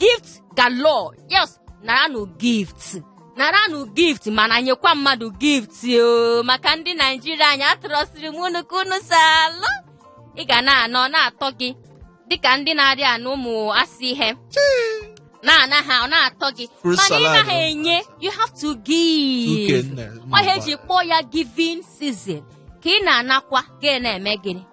gift galore yes naranụ gift naranụ gift mana nyekwa mmadụ gift o maka ndị naijiria anyị atụrọsiri m unu ka unu si alụ ị ga na-ana ọ na-atọ gị dịka ndị na-arị anụ ụmụ asị ihe na-ana ha ọ na-atọ gị mana ị naghị enye you have to give ọ ihe e ji kpọọ ya giving season ka ị na-anakwa gị na-eme gịnị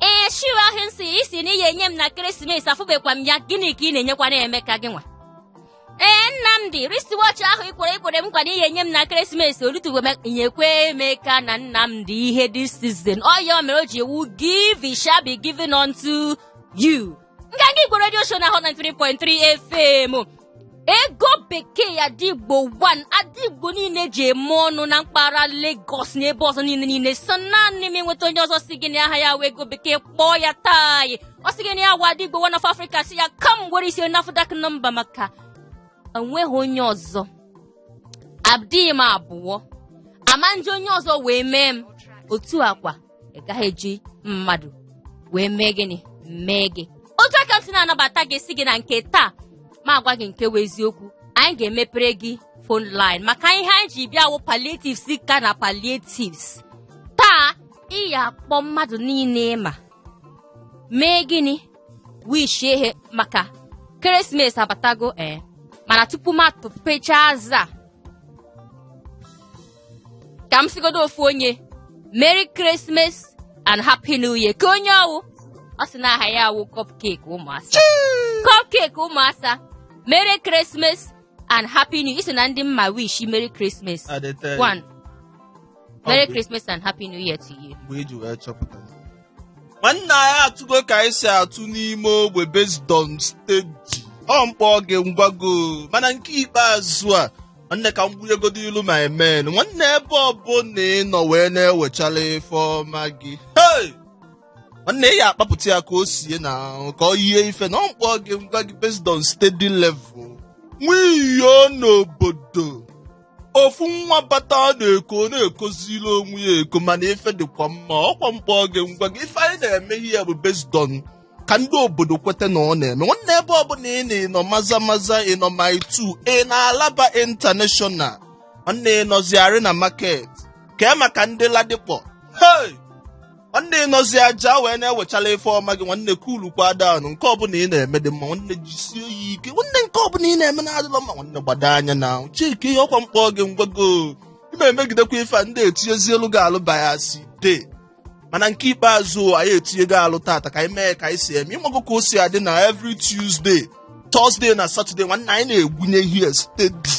ee shoe ahụ ị sị ị sị na ị ya-enye m na christmas afụbekwa m ya gịnị ka ị na-enyekwanụ emeka gị nwa ee nnamdị wristwatch ahụ i kwere i kwere m nkwa na ị ya-enye m na christmas o lutego nyekwa emeka na nnamdị ihe this season ọ ya mere o ji wụ give it shall be given unto you nganga igbo redio show na hot 93.3 fm ego bekee ada igbo 1 ada igbo niile ji eme ọnụ na mpaghara Lagos na ebe ọzọ niile niile sọ naanị m i nweta onye ọzọ sị gị na aha ya wụ ego bekee kpọọ ya taa ọ sị gị na ya wụ ada igbo 1 of Africa sị ya ka m were isi nafdac nọmba maka enweghị onye ọzọ adịghị m abụọ a ma eji onye ọzọ wee mee m otu a kwa ị gaghị eji mmadụ wee mee gịnị mee gị otu a ka m si na-anabata gị sị gị na nke taa ma agwa gị nke bụ eziokwu anyị ga-emepere gị phone line maka ihe anyị ji bịa wụ palliatives ka na palliatives taa ị ya akpọ mmadụ niile ị ma mee gịnị wishie ha maka christmas abatago ee mana tupu m atụpecha aza ka m sịgodu ofu onye merry christmas and happy new year ka onye ọ wụ ọ sị na aha ya wụ cupcake ụmụ asa cupcake ụmụ asa merry christmas and happy new year i so na ndị m ma wish merry christmas one merry christmas and happy new year to you nwanne anyị atụgo ka anyị si atụ n'ime ogbe based on steady ọ m kpọọ gị m gwa gị o mana nke ikpeazụ a nwanne ka m gbunyegodilu my men nwanne ebe ọbụla ị nọ wee na-ewechala ife ọma gị Hey! nwanne ị ya akpapụta ya ka o sie na ahụ ka ọ yie ife na ọ m kpọọ gị m gwa gị based on steady level nwiyo n'obodo ofu nwa bata ọ na-eko ọ na-ekozili onwe ya eko mana ife dịkwa mma ọkwa m kpọọ gị m gwa gị ife anyị na-eme here bụ based on ka ndị obodo kweta na ọ na-eme nwanne ebe ọbụla ị nọ ị nọ maza maza ị nọ mile two ị nọ alaba international nwanne ị nọzi arena market kee maka ndị ladipo hey! nwanne ị nọzi ajah wee na-ewechala ife ọma gị nwanne kulukwa down nke ọbụla ị na-eme dị mma nwanne jisie ya ike nwanne nke ọbụla ị na-eme na-adịlọ mma nwanne gbado anya na ahụ checkie ihe ọkwa m kpọọ gị m gwa gị o ị na-emegidekwa ife a ndị etinyezielu gị alụba ya si dee mana nke ikpeazụ anyị etinyego alụ tata ka anyị mee ka anyị si eme ịmago ka o si adị na every Tuesday Thursday na Saturday nwanne anyị na-egwunye ihe steady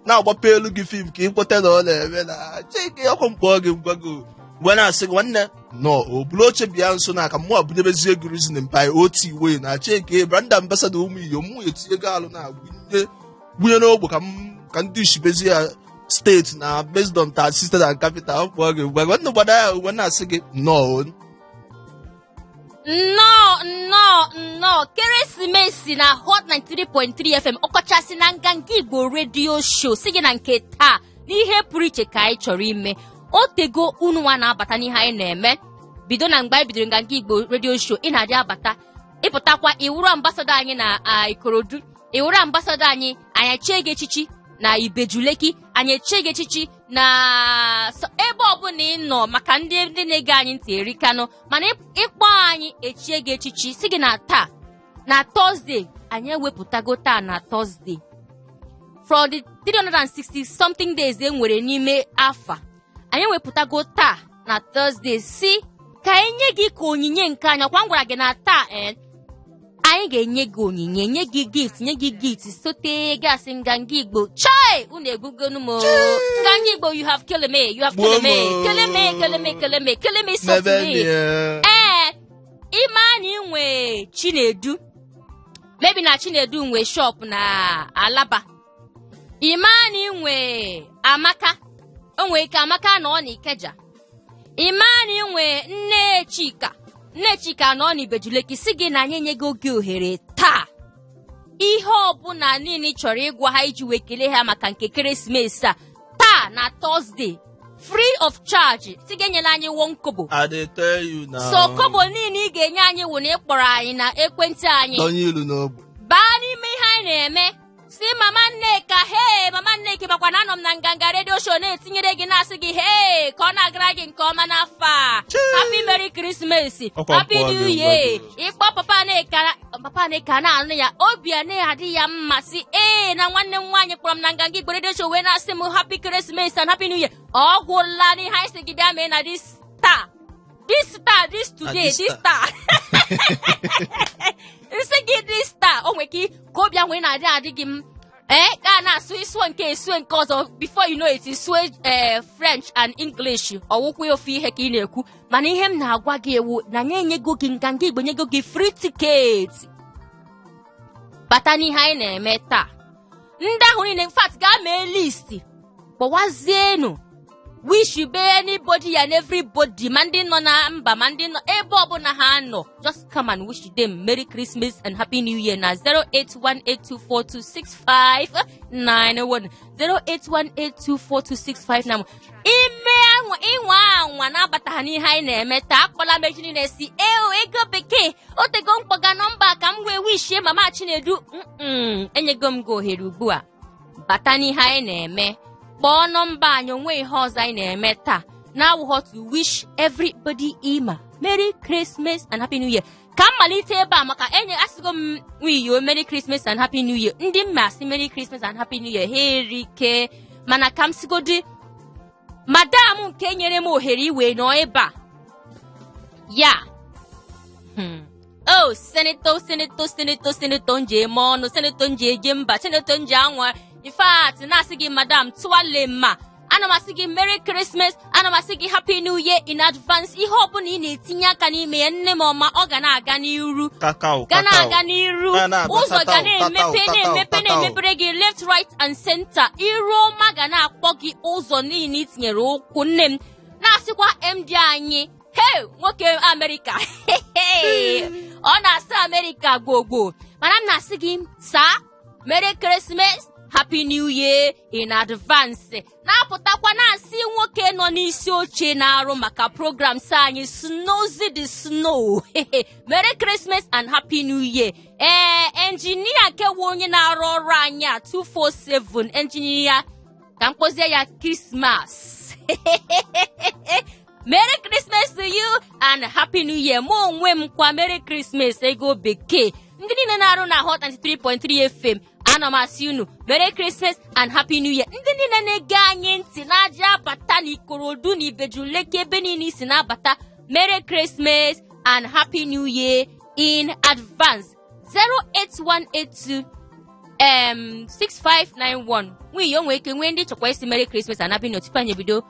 na-agbape elu gị fim ka ị kweta na ọ na-eme na chike ọkwa mkpọ gị ngwa gị mgbe na-asị gị nwanne nnọọ buru oche bịa nso na ka mụ bunyebezie gị reason mpa oti wee na chike brand ambasada ụmụ iyo mụ etinyego alụ na-agwụnye gbunye n'ogbo ka m- ka ndị ishibezi ya steady na based on ta site na capital ọ kpọọ gị ugbu a gwa nna gbada ya wee na-asị gị nnọọ nnọọ nnọọ nnọọ keresimesi na hot 93.3 fm ọkọchasị na nganga igbo redio show sị gị na nke taa n'ihe pụrụ iche ka anyị chọrọ ime o tego unu nwa na-abata n'ihe anyị na-eme bido na mgbe anyị bidoro nganga igbo redio show ị na-adị abata ị pụtakwa ị wụrụ ambasada anyị na ah, ikorodu ị wụrụ ambasadọ anyị anyị echie gị echichi na ibejuleki anyị echie gị echichi na so- ebe ọbụla ị nọ maka ndị ndị na-ege anyị ntị erikanụ mana ị- ị kpọọ anyị echie gị echichi sị gị na taa na Thursday anyị ewepụtago taa na Thursday from the 360 something days e nwere n'ime afọ a anyị ewepụtago taa na Thursday sị ka anyị nye gị ka onyinye nke anyị ọkwa m gwara gị na taa ee anyị ga-enye gị onyinye nye gị gift nye gị gift sote gasị nganga igbo chai unu egbugonu m o. nganga igbo you have killed me you have killed me Gbuo m o. kill me kill me kill me kill me softly Mebe me n'ihe. ee ị ma na ị nwe chinedu maybe na chinedu nwe shop na alaba ị ma na ị nwe amaka o nwere ike amaka nọ na ikeja ị ma na ị nwe nne chika nne chika nọ na ibejuleki sị gị na anyị enye gị oge ohere taa ihe ọbụla niile ị chọrọ ịgwa ha iji wee kelee ha maka nke keresimesi a taa na Thursday free of charge sị gị enyela anyị one kobo I dey tell you now. so kobo niile ị ga-enye anyị wụ na ị kpọrọ anyị na ekwentị anyị Donye ilu n'ogbe. baa n'ime ihe anyị na-eme sị mama nneka hee mama nneka makwa na anọ m na nganga redio show na-etinyere gị na-asị gị hee ka ọ na-agara gị nke ọma n'afọ a happy merry christmas happy new year ị kpọọ papa nneka papa nneka na-anụ ya obi ana-adị ya mma sị ee na nwanne m nwaanyị kpọrọ m na nganga igbo redio show wee na-asị m happy christmas and happy new year ọ gwụla n'ihe anyị sị gị bịa mee na this taa this taa this today this this taa m sị gị this taa o nwere ike ka obi ahụ ị na-adị adị gị m ee ka a na-asụ ị sụọ nke a sụọ nke ọzọ before you know it ị sụọ ee french and english ọ wụkwa ofu ihe ka ị na-ekwu mana ihe m na-agwa gị wụ na anyị enyego gị nganga igbo nyego gị free ticket bata n'ihe anyị na-eme taa ndị ahụ niile in fact gaa mee listi kpọwazienu wish be anybody and everybody ma ndị nọ na mba ma ndị nọ ebe ọbụla ha nọ just come and wish them merry christmas and happy new year na 08182426591 08182426591 ime anwa ị nwa anwa na-abataghị n'ihe anyị na-eme taa akpọla m echi niile sị eo ego bekee o tego m kpọga nọmba ka m wee wishie mama chinedu mm enyego m gị ohere ugbu a bata n'ihe anyị na-eme kpọọ nọmba anyị o nwe ihe ọzọ anyị na-eme taa na-awụghọ to wish everybody ima merry christmas and happy new year ka m malite ebe a maka enye asịgo m nwiyo Merry Christmas and Happy New Year ndị m ga-asị Merry Christmas and Happy New Year ha erike mana ka m sigodi madam nke nyere m ohere iwe nọ ebe a ya hmm. o oh, seneto seneto seneto seneto nje eme ọnụ seneto nje eje mba seneto nje anwa in fact na-asị gị madam tuale mma ana m asị gị merry christmas ana m asị gị happy new year in advance ihe ọbụla ị na-etinye aka n'ime ya nne m ọma ọ ga na-aga n'iru ga na-aga n'iru ụzọ ga na-emepe na-emepe na-emepere gị left right and center iru ọma ga na-akpọ gị ụzọ niile i tinyere ụkwụ nne m na-asịkwa MD anyị hey nwoke amerịka ọ na-asị amerịka gbogbo mana m na-asị gị sir Merry Christmas Happy New Year in advance na-apụtakwa na-asị nwoke nọ n'isi oche na-arụ maka programs anyị Snowzy the Snow Merry Christmas and Happy New Year ee enjinia kewu onye na-arụ ọrụ anyị a 247 enjinia ka m kpọzie ya Christmas Merry Christmas to you and Happy New Year mụ onwe m kwa Merry Christmas ego bekee ndị niile na-arụ na Hot 93.3 FM ana m asị unu Merry Christmas and Happy New Year ndị niile na-ege anyị ntị n'Ajah abata na Ikorodu na Ibeju-Lekki ebe niile i si na-abata Merry Christmas and Happy New Year in advance 08182 em 6591 nwunye o nwere ike nwee ndị chọkwa ịsị Merry Christmas and Happy New Year tupu anyị ebido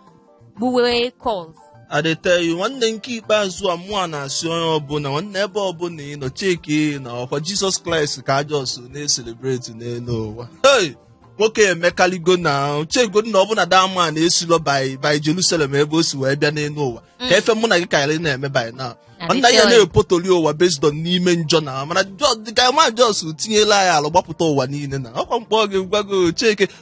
gbuwe calls I dey tell you nwanne nke ikpeazụ a mụa na-asị onye ọbụla nwanne ebe ọbụla ị nọ cheki na ọkwa jizọs kraịst ka a just na-eselebreti n'elu ụwa hey nwoke emekaligo na chegodu na ọ bụ na that man esilo by by jerusalem ebe o si wee bịa n'elu ụwa kee ife mụ na gị kaala na-eme by now nwanne ya na-epotoli ụwa based on n'ime njọ na mana dịka man just tinyela ya alụ gbapụta ụwa niile na ọkwa m kpọ gị gwago cheke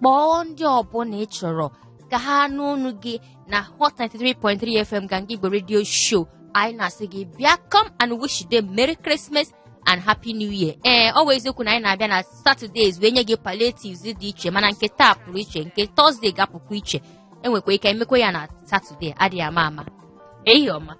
kpọọ ndị ọbụla ị chọrọ ka ha nụ ọnụ gị na hot 93.3 fm ga ngigbo radio show anyị na-asị gị bịa come and wish them merry christmas and happy new year ee ọ wụ eziokwu na anyị na-abịa na saturdays wee nye gị palliatives dị iche mana nke taa pụrụ iche nke thursday ga-apụkwa iche enwekwa ike emekwa ya na saturday adịghị ama ama ehihie ọma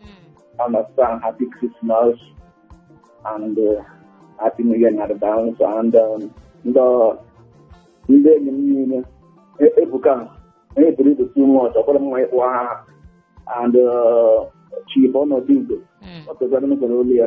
Mm. understand happy Christmas and uh, happy New Year in advance and um, ndị ndị enyi m niile e- ebuka onye buru ibu too much ọkwara mma ịkpọ aha and uh, chief ọnọdụ igbo Mm. ọ pụtara n'ụzọ olu ya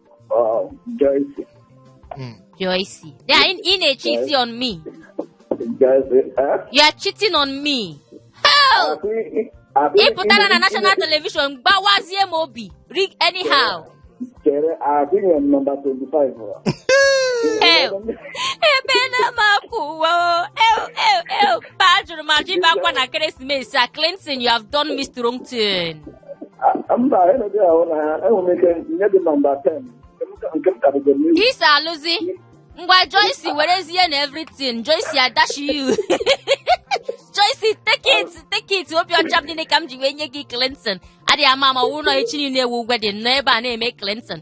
Uh, Joyce, Mm. Joyce. They are ị, ị na cheating on me. Joyce, eh? You are cheating on me. Hei! Akụ i- akụ Ị i- pụtara na i- national television gbawazie m obi. Rig anyhow. Chere, akụ inye m nọmba 25 ụwa. Ew. Ebe na m akwụ ụwa o. Ew, ew, ew. Ba jụrụ ma jibakwa na Ekeresimesi a Clinton, you have done me strong thing. A- mba enedi ahụ na ha enwere m ike nye gị nọmba 10 nke m ka- nke m kadịgo n'ihu isi alụzi ngwa joyce werezie na everything joyce I dash you joyce take it take it obi ọcha m niile ka m ji wee nye gị clinton adịghị ama ama wụrụ na echi niile ewu wedding nọ ebe a na-eme clinton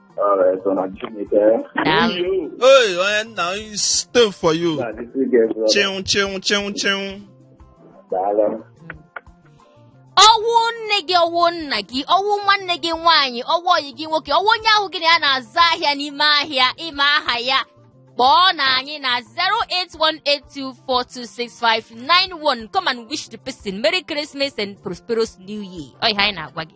Hey, onye nna onye stone for you. Chịnwụ chịnwụ chịnwụ chịnwụ. ọ wụ nne gị ọ wụ nna gị ọ wụ nwanne gị nwaanyị ọ wụ ọyị gị nwoke ọ wụ onye ahụ gị na ya na-azụ ahịa n'ime ahịa ị ma aha ya kpọọnụ anyị na 08182426591 come and wish the person merry christmas and prosperous new year ọ ihe anyị na-agwa gị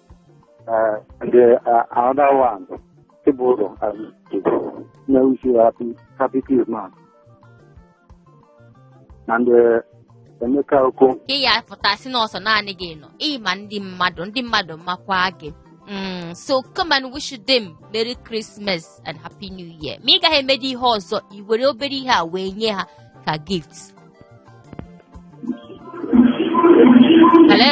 the uh, another one, Ibodo, I wish you happy, happy Christmas. And uh, Emeka Oko. Ị ya pụta sị na ọ sọ naanị gị nọ ị ma ndị mmadụ ndị mmadụ makwa gị Mm, so come and wish them Merry Christmas and Happy New Year. Ma ị gaghị emedi ihe ọzọ i were obere ihe a wee nye ha ka gift. Hello?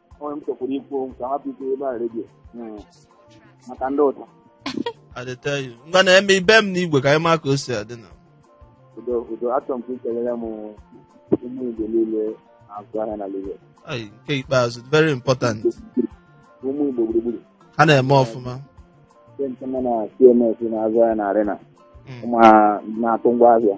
o nwe ihe m chọkwuru ikwu okwu ka m hapụ ikwu ebe a radio maka ndị ụta I dey tell you. Ngwa na-eme ibe m n'igwe ka anyị maa ka o si adị na. udo udo achọrọ m ka i kelere m ụmụ igbo niile na-azụ ahịa na Lagos Ai, nke ikpeazụ very important. ụmụ igbo gburugburu Ha na-eme ọfụma. ndị nke nọ na CMS na-azụ ahịa na arena Mm. ụmụ ha na-atụ ngwa ahịa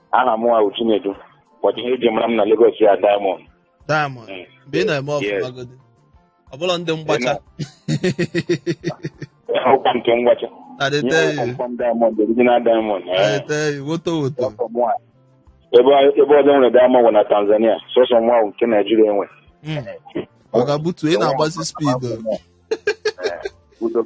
aha mụwa wụ Chinedu ụbọchị ihe eji mara m na Lagos ya Diamond diamond Mm. mgbe ị na-eme ọfụma Yes. godi ọ bụlọ ndị mgbacha ụkwa nke ngwacha na dey ihe tell you kpọmkpọm Diamond original Diamond na dey eh. tell you woto woto Sọsọ mụwa. ebe ebe ọzọ nwere Diamond bụ na Tanzania sọsọ mụwa wụ nke Naijiria nwe Mm. ọ ga-abutu ị na-agbasi speed o. Udo.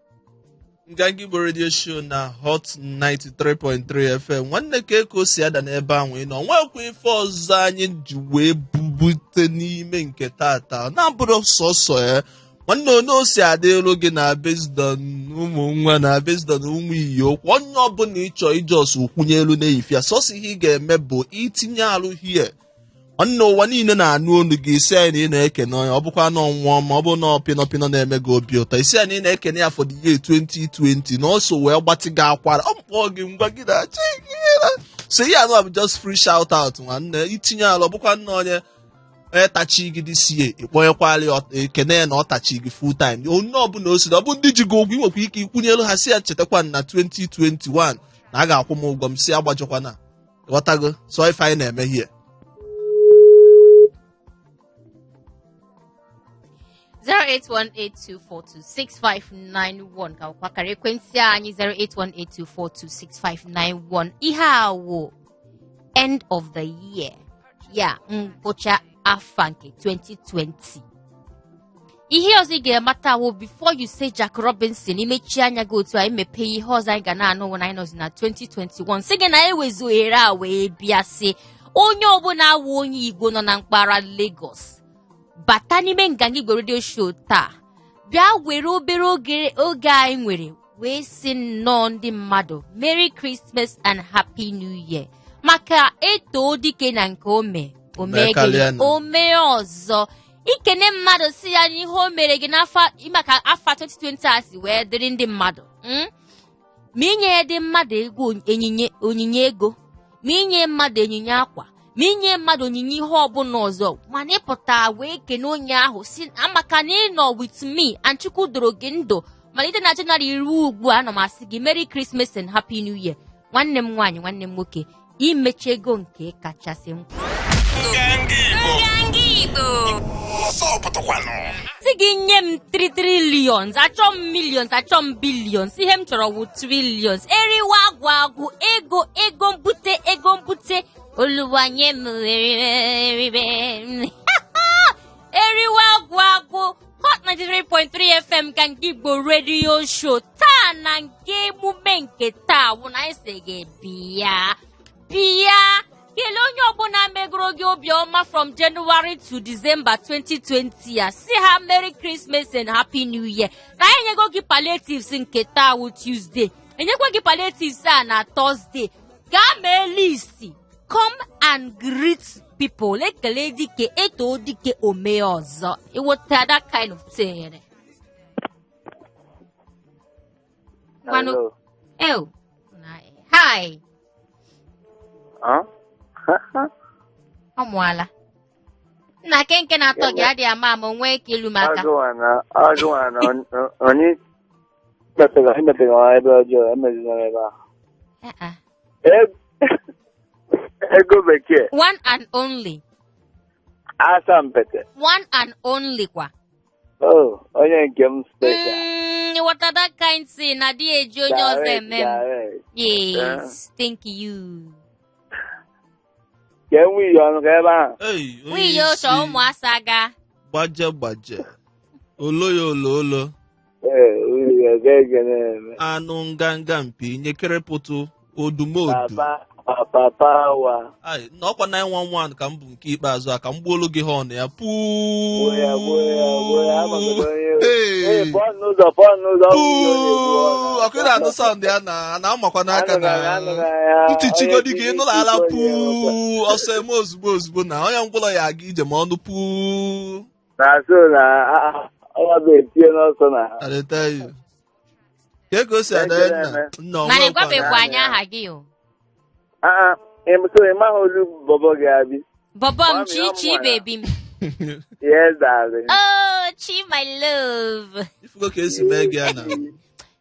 nganga igbo redio show na hot 93.3 fm nwanne kee ka o si ada n'ebe ahụ ị nọ nwekwa ife ọzọ anyị ji wee bubute n'ime nke taata na-abụrụ sọsọ ya nwanne onye o si adị elu gị na based on ụmụ nwa na based on ụmụ iyi okwu onye ọbụla ị chọ ijust kwunyelu na-eyifia sọsọ ihe ị ga-eme bụ itinye arụ here nwanne ụwa niile na-anụ olu gị ị sị anyị na ị na-ekene onye ọ bụkwa na ọnwụọ ma ọ bụ na ọpịnọpịnọ na-eme gị obi ụtọ ị sị anyị na ị na-ekene ya for the year 2020 na ọ so wee gbatị gị akwara ọ mkpọọ gị ngwa gị na-achọ gị na so ihe anụ a bụ just free shout out nwanne itinye ala ọ bụkwa nna onye onye tachi gị this year ịkpọnyekwala ya ọ- ekene ya na ọ tachi gị full time onye ọbụla o siri ọ bụ ndị ji gị ụgwọ i nwekwa ike ikwunyelu ha sị ya chetakwa na 2021 na a ga-akwụ m ụgwọ m si agbajọkwana ghọtago sọ ife anyị na-eme here 08182426591 ka wụkwa akara ekwentị anyị 08182426591 ihe a wụ end of the year ya ngwụcha afọ nke 2020 ihe ọzọ ị ga-amata wụ before you say Jack Robinson i mechie anya gị otu a i mepee ihe ọzọ anyị ga na-anụ wụ na anyị nọzi na 2021 si gị na ewezu ohere a wee bịa sị onye ọbụla awụ onye Igbo nọ na mpaghara Lagos bata n'ime nganga Igbo redio show taa bịa were obere oge anyị nwere wee sị nnọọ ndị mmadụ Merry Christmas and Happy New Year maka e too dike na nke o me Mee karịa o mee gịnị nụ. o mee ọzọ ikene mmadụ sị ya n'ihe o mere gị n'afọ maka afọ 2020 a si wee dịrị ndị mmadụ mm? ma inye ndị mmadụ ego onyinye onyinye ego ma inye mmadụ onyinye akwa ma inye mmadụ onyinye ihe ọbụla ọzọ mana ịpụta wee kene onye ahụ sị ya maka na ị nọ with me and chukwu doro gị ndụ malite na jenụwarị ruo ugbu a ana m asị gị merry christmas and happy new year nwanne m nwaanyị nwanne m nwoke i mechago nke kachasị mkpa sị gị nye m 3 trillions achọ m millions achọ m billions ihe m chọrọ wụ trillions eriwa agwụ agwụ ego ego mbute ego mbute oluwa nye m eriwe agwụ agwụ Hot 93.3 FM ka nke Igbo radio show taa na nke emume nke taa wụ na anyị sị gị bịa bịa kelee onye ọbụla megoro gị obiọma from January to December 2020 ya sị ha Merry Christmas and Happy New Year na anyị enyego gị palliatives nke taa wụ Tuesday enyekwa gị palliatives a na Thursday gaa mee list come and greet people e kelee dike e too dike o mee ọzọ ị ghọta that kind of thing Manu- Hello. ew hi Huh? ọ mụọla nna kenke na-atọ gị adịghị ama ama onwe ka ilu maka Agụwa na agụwa na on- on- onye Emepega emepega nwa ebe ọjọọ emezina ebe ahụ. Eh, eh. E- Ego bekee one and only asampete. one and only kwa Oh, onye nke m special. Mm, ị ghọta that kind thing na adị eji onye ọzọ Direct, eme m direct. yes thank you Ka enwe iyi ọnụ ka ebe ahụ. Ei, onye nwunye ya isi, ịchọ ụmụ asa ga gbaje gbaje olo ya olo olo Ee, unu ya ga-ege na-eme. anụ nganga mpi nyekere pụtụ odumodu Papa, papa, papa wa. Ai, na ọkwa 911 ka m bu nke ikpeazụ a ka m gbuolu gị horn ya Gbuo ya, gbuo ya, gbuo ya. Amagodo onye ewu. Ee, Ee, pụọ n'ụzọ, pụọ n'ụzọ. Ọ bụ ihe ọ na-ekwu, ọ na- ọkwa ị na-anụ sound ya na a na-amakwa n'aka na Anụghị, anụghị ya. ntị chigodi gị Onye nụla ala tiri isi onye puu ọsọ emee ozugbo ozugbo na onye ngwụlọ ya-aga ije ma ọ nụ puu na so na ọnọdụ etinye n'ọsọ na ha arịta ya ka ka o si ada ya nna nna ọnwa mana ị gwara gwabekwa ya. anyị aha gị o aa so ị maghị olu bọbọ gị abi bọbọ m Mami, chi ọ chi mụrụ. baby m yes darling oh chi my love ifugo ka e si mee gị ya na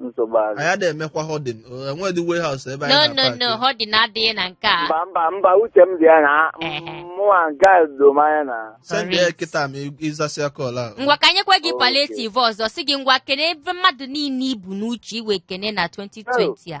nsogbu adị anyị adịghị emekwa hoarding enwedị warehouse ebe no anyị nọ na-apaki. no hoarding adịghị na nke a mba mba mba uche m dị ya na Ehe. mụnwa nke a do m anya na send ya Correct. kịta ma ị- ị zasịa call ahụ ngwa ka e nyekwa gị Okay. palliative ọzọ sị gị ngwa kenebe mmadụ niile i bu n'uche iwe kene na 2020 a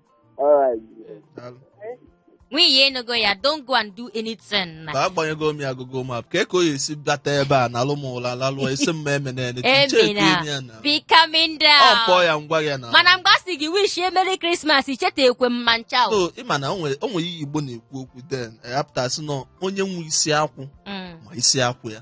nwunye ya ị nụgo ya don't go and do anything na ka agbanyego m ya Google Map ka ka o ya-esi bata ebe a nalụ m ụla lalụọ esi m emena ya n'etu cheki Emena. m ya na be coming ọ kpọọ down ya ngwa ya na mana mgbe a sị gị wish ya Merry Christmas icheta ekwe m ma ncha o. so ị ma na o nwere o nwere ihe Igbo na-ekwu okwu then apụta sị na onye nwe isi akwụ Mm. ma isi akwụ ya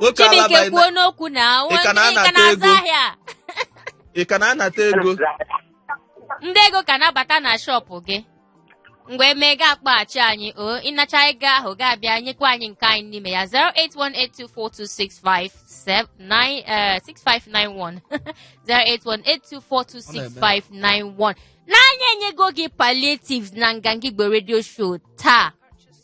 Nwoke ala Chibike baị- kwuo n'okwu na Ị ka na-anata ka na-azụ ego? ahịa a. ị ka na-anata ego ndị ego ka na-abata na shọpụ gị mgbe e mee ga akpọghachi anyị o ị nachaa ego ahụ ga-abịa nyekwa anyị nke anyị n'ime ya 08182426591 08182426591 na anyị enyego gị palliatives na nganga igbo radio show taa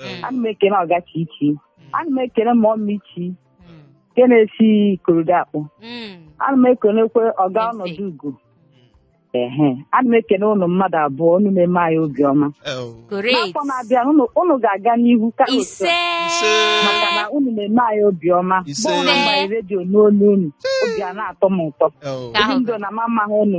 Ee. ana m ekene ọga Chichi ana m ekene mọmị Chi Mm. nke na-esi Ikorodu akpọ Mm. ana m ekenekwe ọga Ntị. ọnọdụ ugo ehe ana m ekene unu mmadụ abụọ unu na-eme anyị obiọma Ee, o. Great. n'afọ na-abịa unu unu ga-aga n'ihu ka otu a, Ise. Ise. maka na unu na-eme anyị obiọma Ise. bụrụ na m gbanye redio nụ olu unu obi ana-atọ m ụtọ Ee, o. Ka ahụ ndị ndụ na mama ha unu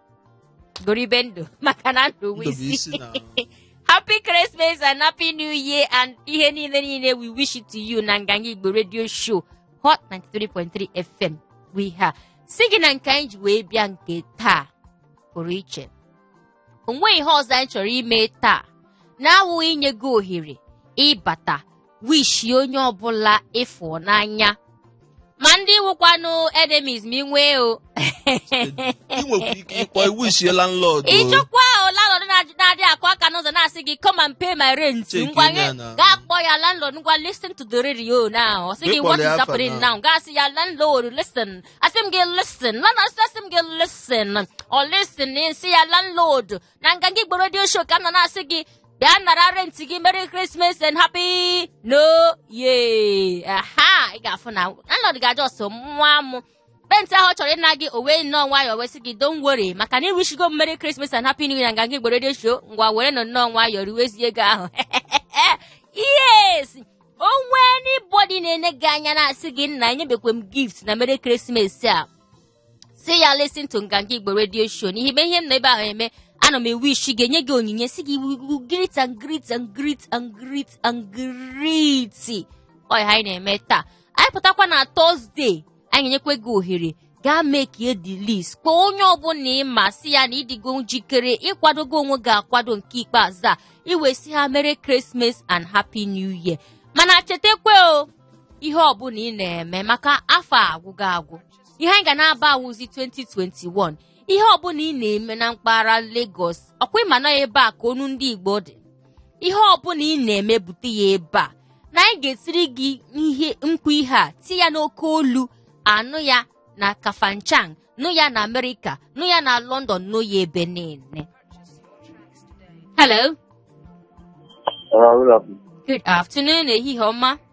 goribe ndụ maka na ndụ bụ isi Ndụbụisi na happy christmas and happy new year and ihe niile niile we wish it to you na nganga igbo radio show hot 93.3 fm bụ ihe a sị gị na nke anyị ji wee bịa nke taa pụrụ iche o nweghị ihe ọzọ anyị chọrọ ime taa na-awụghị inye gị ohere ịbata wishi onye ọbụla ị fụ n'anya ma ndị wụkwanụ enemies ma i nwee o ị nwekwara ike ịkpọ wishie landlord o. ị chọkwa landlord na-ajụ- na-adị akụ aka n'ụzọ na-asị gị come and pay my rent Check ngwa in gị ya na- gaa kpọọ ya landlord ngwa listen to the radio now ọ sị gị Ịkpọrọ what ya is afa happening now. now gaa sị ya landlord listen asị m gị listen landlord sị m gị listen ọ listen sị ya landlord na nganga igbo redio show ka m nọ na-asị gị bịa nara renti gị merry christmas and happy new year ị ga-afụ na landlord ga-aja ọsọ nwa m renti ahụ ọ chọrọ ịna gị o wee nnọọ nwayọọ wee sị gị don't worry maka na ị wishigo m merry christmas and happy new year na nganga igbo redio show ngwa were nọ nnọọ nwayọọ riwezie ego ahụ yes o nwee anybody na-ene gị anya na-asị gị nna enyebekwe m gift na merry christmas a sị ya listen to nganga igbo radio show n'ihi ihe m nọ ebe ahụ eme ana m ewishi gị enye gị onyinye sị gị ị wụ great and great and great and great and great ọ ya anyị na-eme taa anyị pụtakwa na tọzdee anyị enyekwa gị ohere gaa mekie the list kpọọ onye ọbụla ị ma sị ya na ị dịgo njikere ị kwadogo onwe gị akwado nke ikpeazụ a i wee sị ha merry Christmas and happy new year mana chetakwa o ihe ọbụla ị na-eme maka afọ agwụgo agwụ ihe anyị ga na-aba awụzi 2021 ihe ọbụla ị na-eme na mpaghara Lagos ọkwa ịma na ebe a ka onu ndị Igbo dị ihe ọbụla ị na-eme bute ya ebe a na anyị ga-etiri gị mkpu ihe a tie ya n'oke olu a nụ ya na Kafanchan nụ ya na Amerịka nụ ya na London nụ ya ebe niile Hello. Good afternoon, ehihie ọma.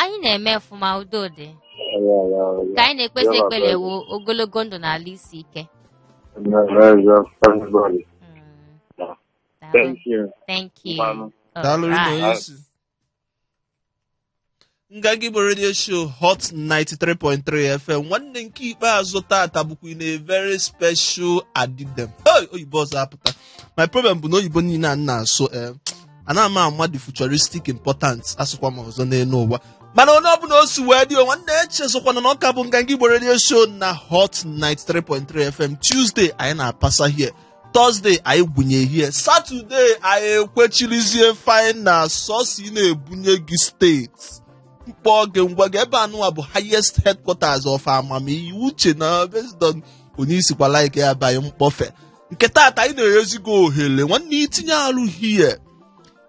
anyị na-eme ọfụma udo dị ka anyị na-ekpesi ekpere wụ ogologo ndụ na alụ isi ike Thank you. Thank you. All right. nganga igbo redio show hot 93.3 fm nwanne nke ikpeazụ tata bụkwa in a very special adidem hey, oyibo ọzọ apụta my problem bụ na oyibo niile a na-asụ eh, ana m ama the futuristic importance asụkwa m ọzọ n'elu ụwa mana onye ọbụla o si wee dị o nwanne echezọkwana na ọ ka bụ nganga igbo redio show na hot 93.3 fm tuesday anyị na-apasa here Thursday anyị gwunye here Saturday anyị ekwechirizie fine na sọsi na-ebunye gị steeti mkpọ gị ngwa gị ebe anụwa bụ highest headquarters of amamihe uche na based on onye i sikwa like ya banye mkpọfe nke taata anyị na-enyezi gị ohere nwanne itinye alụ here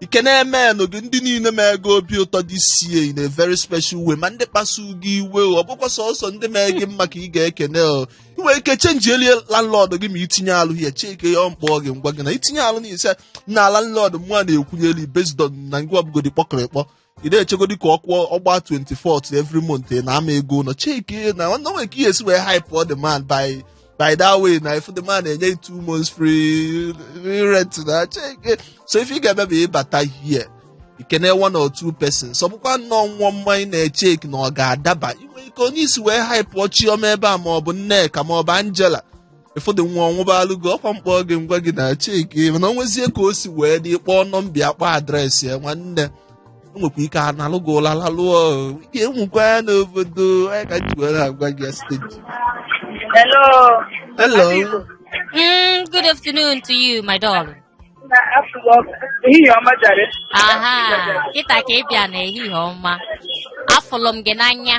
ikene men gị ndị niile mee gị obi ụtọ this year in a very special way ma ndị kpasu gị iwe o, ọ bụkwa sọsọ ndị mee gị mma ka ị ga-ekene o ị nwere ike chenji elie landlord gị ma itinye alụ here chekie mkpọ gị ngwa gị na itinye alụ n'ihi si na landlord mụ a na-ekwunyeli based on na ngwa ọbụgodi kpọkịrịkpọ ị na-echegodi ka ọ kwụọ ọgba 24th every month ị na-ama ego ụlọ chekie na ọ nwere ka ihe esi wee hype ọ the man by by that way na if the man enye two months free rent na cheki so ife ị ga-eme bụ ịbata here ikene one or two persons ọ bụkwa nnọọ nwa ọma ị na-echeki na ọ ga-adaba i nwee ike onye i si wee hype ọ chiọma ebe a ma ọ bụ nneka ma ọ bụ angela ụfọdụ nwa ọnwụbalụ gị ọkwa mkpọ gị ngwa gị na cheki mana o nwezie ka o si wee dị kpọọ nọmba akpọ adreesị ya nwanne enwekwa ike a nalụ gị ụla lalụọ ike enwekwa ya n'obodo anyị ka ji were agwa gị ya steji Hello. Hello. Mm, good afternoon to you, my darling. Na afọ ehihie ọma jare. Aha, kịta ka ị bịa n'ehihie ọma. Afụlụ m gị n'anya.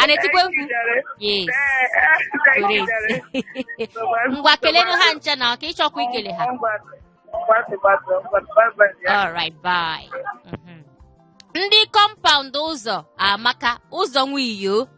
a na-etikwa egwu yes correct ngwa kelenụ ha ncha na ọ ka ị chọkwa ikele ha alright bye Mhm. ndị compound ụzọamaka ụzọ nwiyo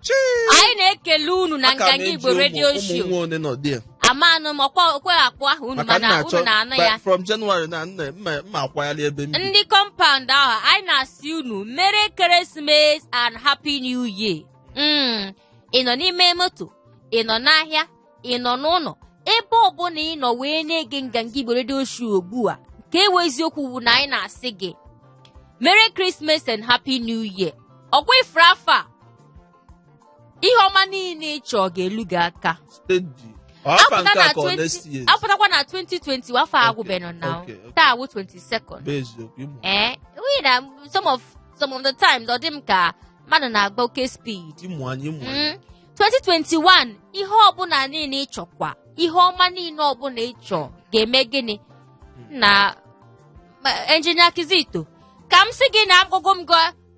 anyị na-ekele unu na Aka m nganga eji igbo ụmụ- redio ụmụ show nwa one nọ there. amanụ m ọkwa okwe akpụ ahụ unu maka m mana na-achọ unu na-anụ by- ya from January na nna mma mma akwagharị ebe m bi. ndị compound ahụ anyị na-asị unu merry Christmas and happy new year Mm, ị nọ n'ime moto ị nọ n'ahịa ị nọ n'ụlọ ebe ọbụla ị nọ wee na-ege nganga igbo redio show ugbu a ka ewe eziokwu bụ na anyị na-asị gị merry Christmas and happy new year ọkwa ifuru afọ a ihe ọma niile ị chọọ ga-elu gị aka steady ọ afọ nke a ka ọ next year apụtakwa na 2020 afọ Okay, agwụbenụ na okay, okay. taa wụ 22nd bụ eziokwu ịmụ ee nwunye na some of some of the times ọ dị m ka mmadụ na-agba oke speed ịmụ anyị ịmụ anyị Mm. 2021 ihe ọbụla niile ị chọkwa ihe ọma niile ọbụla ị chọ ga-eme gịnị na ma- engineer kizito ka m sị gị na agụgụ m gụọ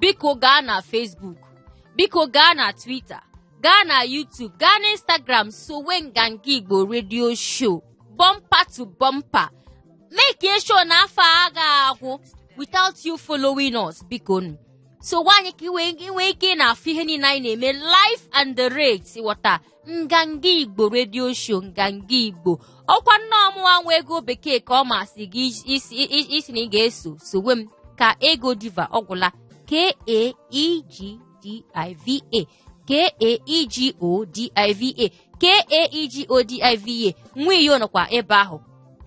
biko gaa na Facebook biko gaa na Twitter gaa na YouTube gaa na Instagram sowe nganga Igbo redio show bumper to bumper make sure na afọ a ga-agwụ without you following us biko nụ sowe anyị ka i nwee ike ị na-afụ ihe niile anyị na-eme live and direct ghọta nganga igbo redio show nganga igbo ọwụkwa nọ mụwa nwa ego bekee ka ọ masị gị ị sị na ị ga-eso sowe m kaego diva ọgwụla k-a-e-g-d-i-v-a k-a-e-g-o-d-i-v-a k-a-e-g-o-d-i-v-a nwa iyo nọkwa ebe ahụ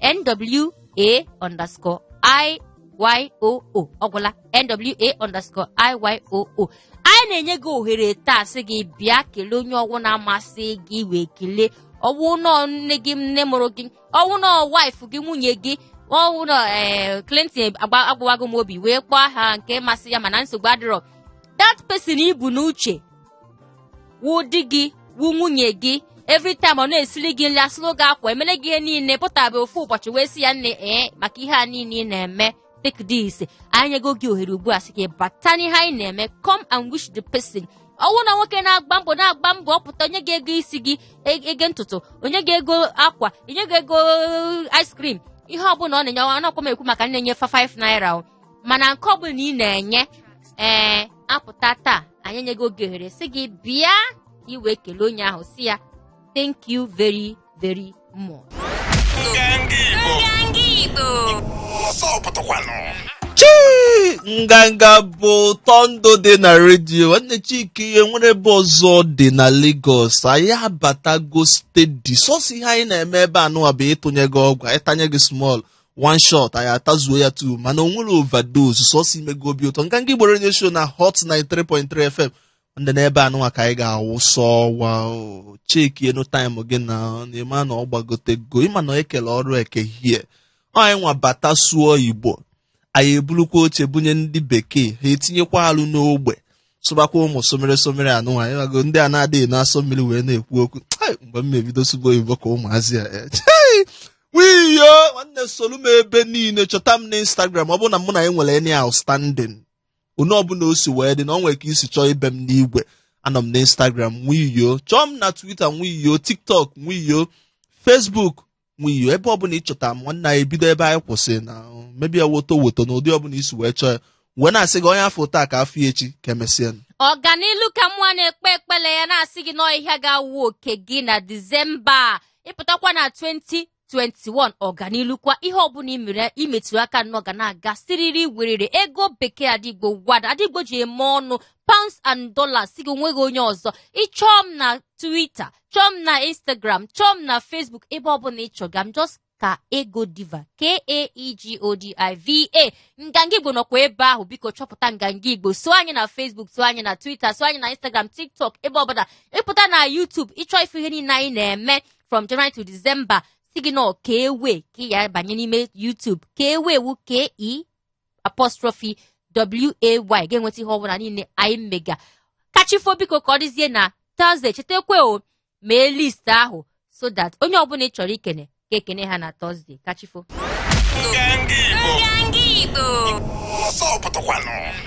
n-w-a underscore i-y-o-o ọgwụla nwa underscore iyoo anyị na-enye gị ohere taa sị gị bịa kelee onye ọwụna masị gị wee kelee ọwụ nọ nne gị nne mụrụ gị ọwụ nọ wife gị nwunye gị ọwụ nọ ee Clinton agba- agbawago m obi wee kpọọ aha nke masị ya mana nsogbu adịrọ that person i bu n'uche wụ di gị wụ nwunye gị every time ọ na-esili gị nri asụlụ gị akwa emele gị ihe niile pụtabe ofu ụbọchị wee sị ya nne ee maka ihe a niile ị na-eme take this anyị nyego gị ohere ugbu a sị gị bata n'ihe anyị na-eme come and wish the person ọwụ na nwoke na-agba mbọ na-agba mbọ ọ pụta onye ga-ego isi gị e- ego ntutu onye ga-ego akwa onye ga-ego ice cream ihe ọbụla ọ na-enye ọ nakwa m ekwu maka na-enye fa 5 naira o mana nke ọbụla ị na-enye ee apụta taa anyị nyego gị ohere sị gị bịa ka i wee kelee onye ahụ sị ya thank you very very much. chii nganga bụ ụtọ ndụ dị na redio nwanne chike ihe nwere ebe ọzọ dị na Lagos anyị abatago steady sọsọ ihe anyị na-eme ebe a nụwa bụ ịtụnye gị ọgwụ anyị tanye gị small one shot anyị atazuo ya two mana o nwerọ overdose sọsọ ime gị obi ụtọ nganga igbo redio show na hot 93.3 fm ndị n'ebe anụnwa ka anyị ga-awụsa ọwa checkie nụ time gị na ịma na ọ gbagotego ịma na ekele ọrụ ekehie anyị nwa bata sụọ igbo anyị ebulukwa oche bunye ndị bekee ha etinyekwa alụ n'ogbe sụbakwa ụmụ somere somere anụnwa ị mago ndị a na-adịghị na-asọ mmiri wee na-ekwu okwu mgbe m mebido sụba oyibo ka ụmụazị a eh, wiyo nwanne solu m ebe niile chọta m na Instagram ọ bụ na mụ na anyị nwere any outstanding onye ọbụna o si wee dị na ọ nwere ka i si chọọ ibe m n'igwe anọ m na instagram nwiyo chọọ m na twitter nwiyo tiktok nwiyo facebook nwiyo ebe ọbụna ị chọta m nwanne anyị ebido ebe anyị kwụsị na mebi ya woto woto na ụdị ọbụna i si wee chọọ ya wee na-asị gị onye a fụ taa ka a fụ ya echi ka emesịa ọganilu ka mụwa na-ekpe ekpele ya na-asị gị na ọ ihe a ga-awụ oke gị na disemba a. ịpụtakwa na 20 21 ọganilukwa ihe ọbụna i metụrụ aka nnọọ ga na-aga siriri werere ego bekee ada igbo nwada ndị igbo ji eme ọnụ pounds and dollars sị gị onweghị onye ọzọ ịchọọ m na twitter chọọ m na instagram chọọ m na facebook ebe ọbụla ịchọ ga m just kaego diva k-a-e-g-o-d-i-v-a nganga igbo nọkwa ebe ahụ biko chọpụta nganga igbo so anyị na facebook so anyị na twitter so anyị na instagram tiktok ebe ọbụla ịpụta na youtube ịchọ ịfụ ihe niile anyị na-eme from January to December sị gị na ọ ke'way ka ya banye n'ime YouTube ke'way wụ k-e apostrophe w-a-y ga-enweta ihe ọbụna niile anyị mega kachifo biko ka ọ dịzie na Thursday chetakwa o mee list ahụ so that onye ọbụna ị chọrọ ikene ga-ekene ha na Thursday kachifo